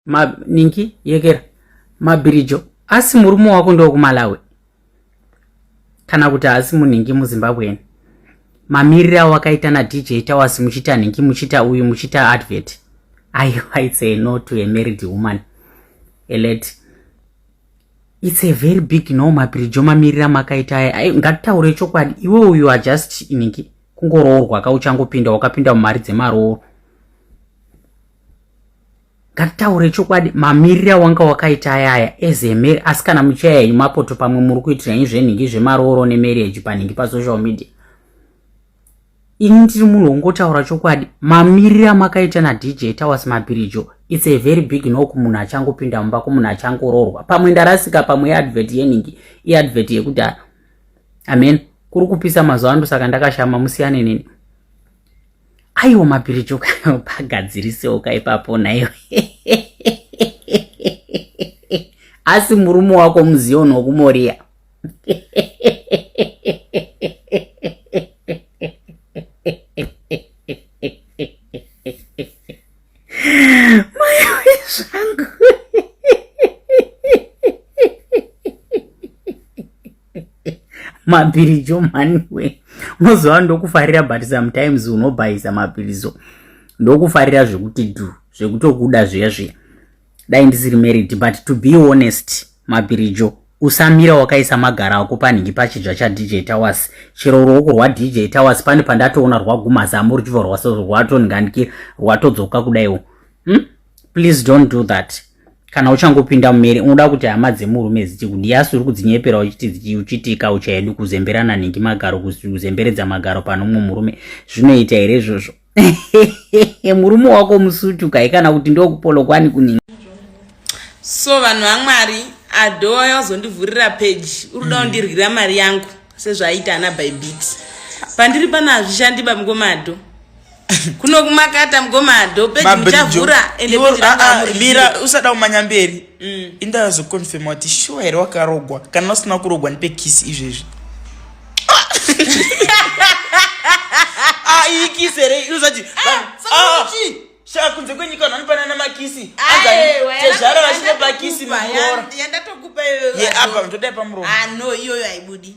ma ninki yekera mabhirijo asi murume wako ndokumalawi kana kuti haasi munhingi muzimbabwean mamiriro awakaita nadj tawas muchita nhingi muchita uyu muchita advert aiwa its a no to a married woman elet its a very big no mabhirijo mamiriro amakaita aya ai ngatitaure chokwadi iwe uyu ajust nhingi kungoroorwa ka uchangopinda wakapinda mumari dzemarooro ngatitaure chokwadi mamirire awanga wakaita ayaya ezemeri asi kana muchaya henyu mapoto pamwe muri kuitira nyi zvenhingi zvemarooro nemarriage panhingi pasocial media ini ndiri munhu wongotaura chokwadi mamirire amakaita nadj tawas mabirijo its a very big nok munhu achangopinda mumba kumunhu achangoroorwa pamwe ndarasika pamwe yeadvert yenhingi iadvert yekuti amen kuri kupisa mazuva ando saka ndakashama musiyane neni aiwa mabhiriji ukapagadzirisewoka ipapo naiwe asi murume wako muzioni wokumoriya mabhirijo maniwe unoziva ndokufarira but sometimes unobhayisa mabhirizo ndokufarira zvekuti du zvekutokuda zviya zviya dai ndisiri married but to be honest mabhirijo usamira wakaisa magara ako panhingi pachidya chadj towers chero ruoko rwadj towers pane pandatoona rwaguma zamu ruchibva rwatoningandikira rwatodzoka kudaiwo hmm? please don't do that kana uchangopinda mumeri unoda kuti hama dzemurume dzichiti kuti yasu uri kudzinyepera uchiti uchitika uchaedu kuzemberana nhingi magaro kuzemberedza magaro pane umwe murume zvinoita here izvozvo murume wako musutu kai kana kuti ndokupolokwani kuningi so vanhu vamwari adhoa yozondivhurira peji uri kuda kundirwira mari yangu sezvaaita ana bybit pandiri pano hazvishandiba mngomado kuno kumakata mgoma dope muchavhura ende ah, ah, mira usada kumanya mberi mm. inda azoconfirma kuti shuwa here wakarogwa kana usina kurogwa ndipe kisi izvezvi ah, iyi kisi here inozati kunze kwenyika vanhu vanopanana makisi tezvara vachinopa kisi mukora yandatokupa iyoyo yeapa ndodai pamuromo ano iyoyo haibudi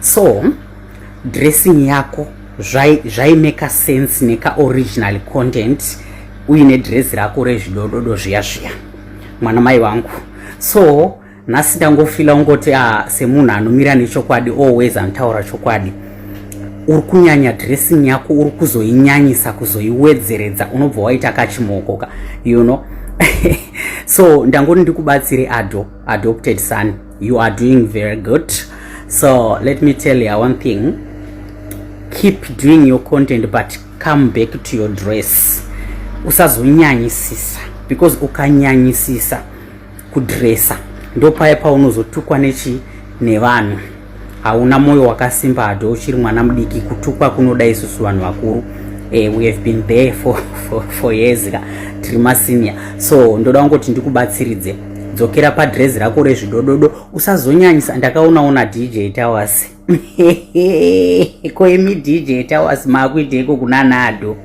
so dressing yako zvaimeka zvi sense nekaoriginal content uine dress rako rezvidododo zviya zviya mwana mai wangu so nhasi ndangofila ungoti a ah, semunhu anomira nechokwadi always anotaura chokwadi uri kunyanya dressing yako uri kuzoinyanyisa kuzoiwedzeredza unobva waita kachimookoka you know so ndangoti ndikubatsire ado adopted son you are doing very good so let me tell you one thing keep doing your content but come back to your dress usazonyanyisisa because ukanyanyisisa kudresa ndopaye paunozotukwa nechi nevanhu hauna moyo wakasimba hado uchiri mwana mudiki kutukwa kunoda isusu vanhu vakuru eh, we have been there for, for, for years ka tiri masinia so ndoda kungoti ndikubatsiridze dzokera padrezi rako rezvidododo usazonyanyisa ndakaonaona dj towers koimi dj towers maakuiteiko kuna nado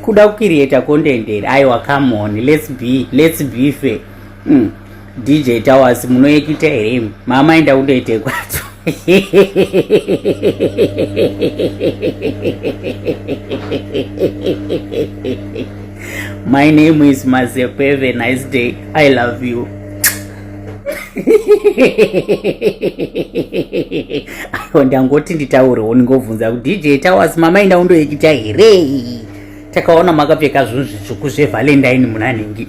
kuda kukiriyeta kondenderi aiwa come on let's be let's be fair mm. dj towers munoekita here imi mama enda kundoite kwadzo my name is mazeko have a nice day i love you ayo ndangoti nditaurewo ndingobvunza ku dj towers mama enda undoekita here takaona makapfeka zvinhu zvitsvuku zvevalentine munanhingi